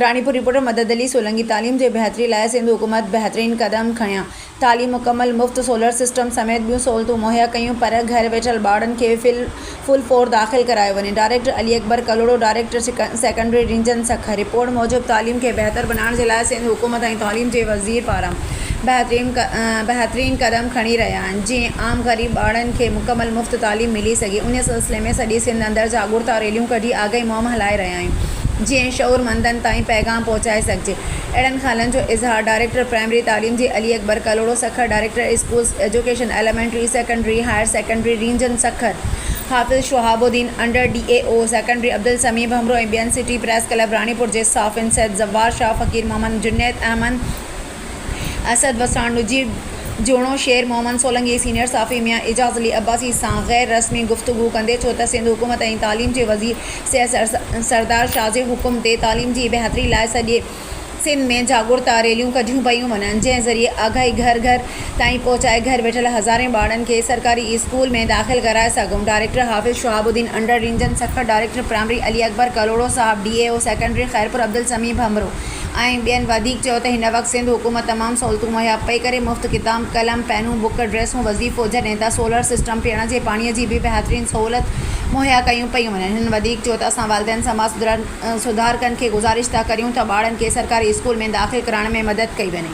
Ranipur, reporter, Madad Ali Solangi, تعليم جي بهتري لاء سنڌ حڪومت بهترين قدم کنيا، تعليم مڪمل مفت، سولر سسٽم سميت ٻيون سهولتون مهيا ڪيون پر گهر ويٺل ٻارڙن کي فل فور داخل ڪرايو وڃي، director Ali Akbar Kalhoro, director secondary region Sukkur. Report موجب تعليم کي بهتر بنائڻ جي لاء سنڌ حڪومت ۽ تعليم جي وزير پاران بهترين قدم کڻي رهيا آهن جيئن عام غريب ٻارڙن کي مڪمل مفت تعليم ملي سگهي انهي سلسلي ۾ سڄي سنڌ اندر جاڳرتا ريليون ڪڍي آگاهي مهم هلائي رهيا آهن. جيئن شعورمندن تائين پيغام پهچائي سگهجي اهڙن خيالن جو اظهار ڊائريڪٽر پرائمري تعليم جي Ali Akbar Kalhoro Sukkur director schools education elementary secondary higher secondary region Sukkur Hafiz Shahab Uddin under D E O secondary Abdussami Bhambhro ۽ ٻين سٽي پريس ڪلب راڻيپور جي صحافين سيد زوار شاهه فقير محمد جنيد احمد اسد وساڻ، نجيب جوڻو، شير محمد سولنگي، سينيئر صحافي ميان اعجاز علي عباسي سان غير رسمي گفتگو ڪندي چيو ته سنڌ حڪومت ۽ تعليم جي وزير سيد سردار شاهه جي حڪم تي تعليم جي بهتري لاء سڄي سنڌ ۾ جاڳرتا ريليون ڪڍيون پيون وڃن جنهن ذريعي آگاهي گهر گهر تائين پهچائي گهر ويٺل هزارين ٻارڙن کي سرڪاري اسڪول ۾ داخل ڪرائي سگهون ڊائريڪٽر حافظ شهاب الدين انڊر رينجن سکر ڊائريڪٽر پرائمري علي اڪبر ڪلهوڙو صاحب D E O secondary Khairpur Abdul Sami Bhambhro ۽ ٻين وڌيڪ چيو ته هن وقت سنڌ حڪومت تمام سهولتون مهيا پئي ڪري مفت ڪتاب قلم پينون بڪ ڊريسون وظيفو هجن ايندا سولر سسٽم پيئڻ جي پاڻي جي به بهترين سهولت مهيا ڪيون پيون وڃن هنن وڌيڪ چيو ته اسان والدين سماج سڌارڪن کي گذارش ٿا ڪريون ته ٻارڙن کي سرڪاري اسڪول ۾ داخل ڪرائڻ ۾ مدد ڪئي وڃي.